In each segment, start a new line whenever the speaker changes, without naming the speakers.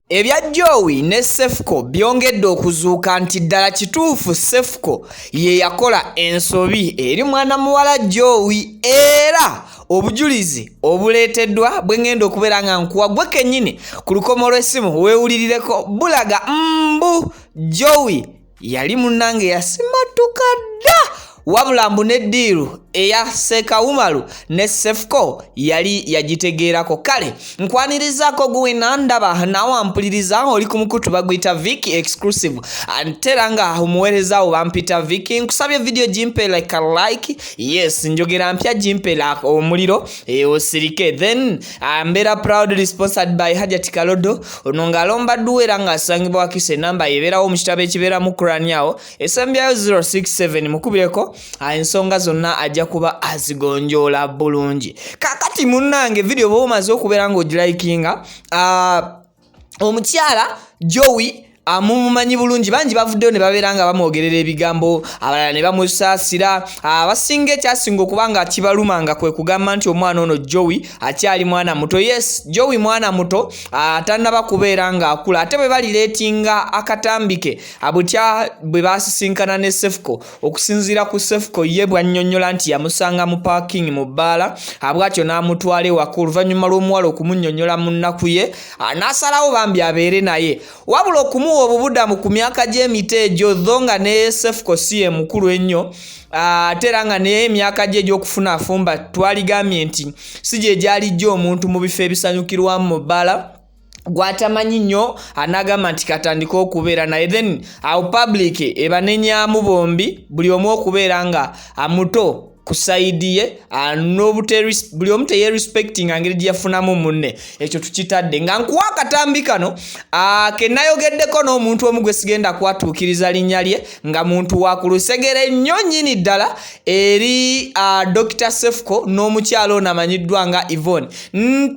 Ebya Joey ne Cephco byongedde okuzuuka nti ddala kituufu Cephco ye yakola ensobi eri mwana muwala Joey era obujulizi obuleeteddwa bwe ngenda okubeera nga nkuwa gwe kennyini ku lukomo lw'essimu weewulirireko bulaga mbu Joey yali munnange yasimattuka dda wabula mbu ne ddiiru eya seeka umaru ne sefuko yali yagitegeerako kale nkwanirizaako guwena ndaba naawe ampuliriza oli ku mukutu baguyita vic exclusive antera nga omuweerezaawo bampita vic nkusabye vidiyo gimpe like a like yes njogera mpya gimpe omuliro e, osirike then Ah, mbeera proudly sponsored by hajati kalodo ono ng'alomba dduwa era ng'asangibwa wakisa enamba yebeerawo mu kitabo ekibeeramu kurani awo esembyayo 067 mukubireko ah, ensonga zonna ajja kuba azigonjoola bulungi kakati munnange vidiyo bwoba omaze okubeera ng'ogilayikinga ah, omukyala jowi amumumanyi bulungi bangi bavuddeyo ne babeera nga bamwogerera ebigambo abalala ne bamusaasira abasinga ekyasinga okuba nga kibaluma nga kwe kugamba nti omwana ono jowi akyali mwana muto yes jowi mwana muto atannaba kubeera ng'akula ate bwe balireetinga akatambike abutya bwe basisinkana ne sefuko Okusinziira ku Cephco ye bw'annyonnyola nti yamusanga mu paakingi mu bbaala abwatyo n'amutwala ewaka oluvannyuma lw'omuwala okumunnyonnyola mu nnaku ye n'asalawo bambi abeere naye wabula okumuwa obubudamu ku myaka gy'emito egyo dho nga ne Cephco si ye mukulu ennyo Ah, ate era nga naye emyaka gye egy'okufuna afumba twaligambye nti si gye gyalijja omuntu mu bifo ebisanyukirwamu mu bbala gwatamanyi nnyo anagamba nti katandika okubeera naye then awo public ebanenyamu bombi buli omu okubeera nga amuto ku sayidi ye ah, buli omu teyerespectinga ngeri gye yafunamu munne ekyo tukitadde nga nkuwa akatambi kano ah, ke nayogeddeko n'omuntu omu gwe sigenda kwatuukiriza linnya lye nga muntu wa ku lusegere nnyo nnyini ddala eri uh, dr sefco n'omukyalo ono amanyiddwa nga evon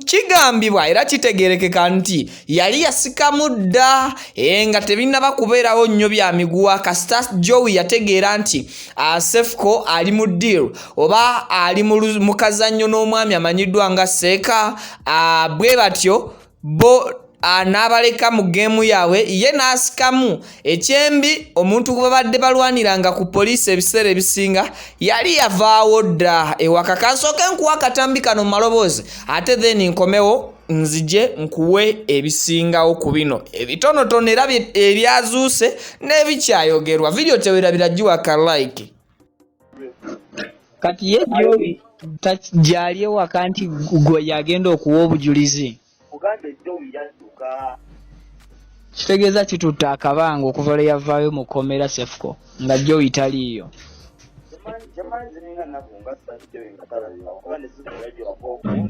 kigambibwa era kitegerekeka nti yali yasikamu dda e, nga tebinnaba kubeerawo nnyo bya miguwa kasita jowi yategeera nti uh, sefco ali mu deal oba ali mu kazannyo n'omwami amanyiddwa nga seeka uh, bwe batyo bo Ah, n'abaleka mu geemu yaabwe ye n'asikamu ekyembi omuntu gwe babadde balwaniranga ku poliisi ebiseera ebisinga yali yavaawo dda ewaka kansooke nkuwa akatambi kano mu maloboozi ate then nkomewo nzije nkuwe ebisingawo ku bino ebitonotono era ebyazuuse n'ebikyayogerwa vidiyo tewerabira giwaka like kati ye jobi gyali ewaka nti gwe yagenda okuwa obujulizi kitegeeza kitutte akabanga okuva lwe yavaayo mu kkomera sefuko nga joyi taliiyo Mm.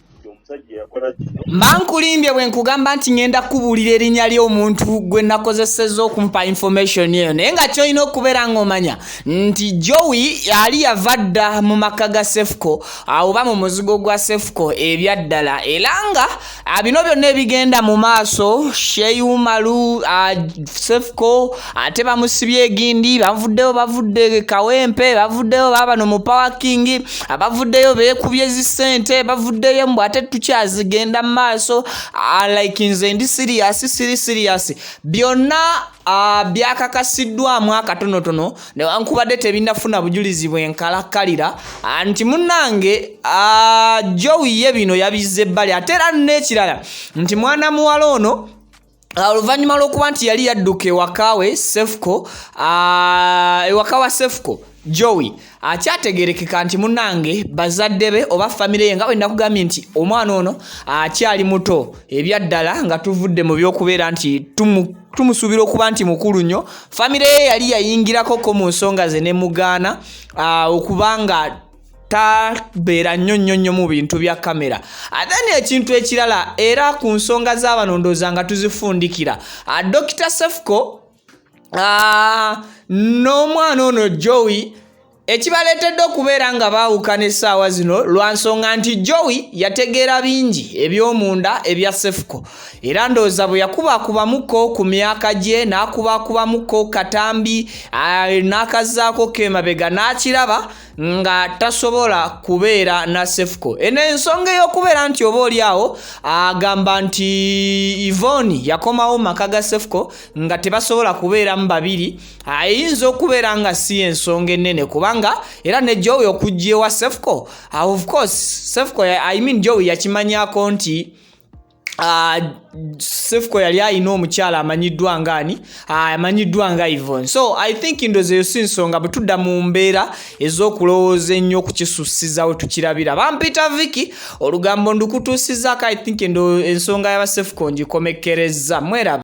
mba nkulimbye
bwe nkugamba nti ngenda kubuulira erinnya ly'omuntu gwe nakozeseza okumpa information eyo naye nga kyolina okubeera ng'omanya nti jowi ali yava dda mu maka ga sefuko awoba mu muzigo gwa sefuko ebyaddala era nga bino byonna ebigenda mu maaso sheyumalu sefuko ate bamusibye egindi bavuddeyo bavudde kawempe bavuddeyo babano mu pawakingi abavuddeyo bekubye zisente bavuddeyo mbu ate tukyazigenda mu maaso ah, like nze ndi siriyasi siri siriyasi byonna ah, byakakasiddwamu akatonotono newankubadde tebinafuna bujulizi bwenkalakkalira ah, nti munange jowiye bino yabizze ebbali ate era n'ekirala nti mwana muwala ono Ah, oluvannyuma lw'okuba nti yali yadduka ewakawe sefuko ah, ewaka wa sefuko joey akyategerekeka ah, nti munange bazadde be oba famire ye nga bwe nakugambye nti omwana ono akyali muto ebyaddala nga tuvudde mu by'okubeera nti tumu tumusuubira okuba nti mukulu nnyo famire ye yali yayingirakoko mu nsonga ze ne mugaana okubanga tabeera nnyo nnyo nnyo mu bintu bya kamera ate neekintu ekirala era ku nsonga z'abanondooza nga tuzifundikira ah, dokita sefuko ah, n'omwana ono jowi ekibaleetedde okubeera nga baawukana essaawa zino lwa nsonga nti jowi yategeera bingi eby'omunda ebya sefuko era ndowooza bwe yakubakubamuko ku myaka gye n'akubakubamuko katambi ah, n'akazaako kemabega n'akiraba nga tasobola kubeera na sefuko eno ensonga ey'okubeera nti oba oli awo agamba nti ivoni yakomawo maka ga sefuko nga tebasobola kubeeramu babiri ayinza okubeera nga si ensonga ennene kubanga era ne jowi okujja ewa sefuko of course sefuko i mean jowi yakimanyako nti Ah, sefuko yali alina omukyala amanyiddwa ngaani ah, amanyiddwa nga ivon so i think ndozi eyo si nsonga bwe tudda mu mbeera ez'okulowooza ennyo okukisussiza we tukirabira bampita viki olugambo ndukutuusizako i think ensonga yabasefuko ngikomekkerezza mweraba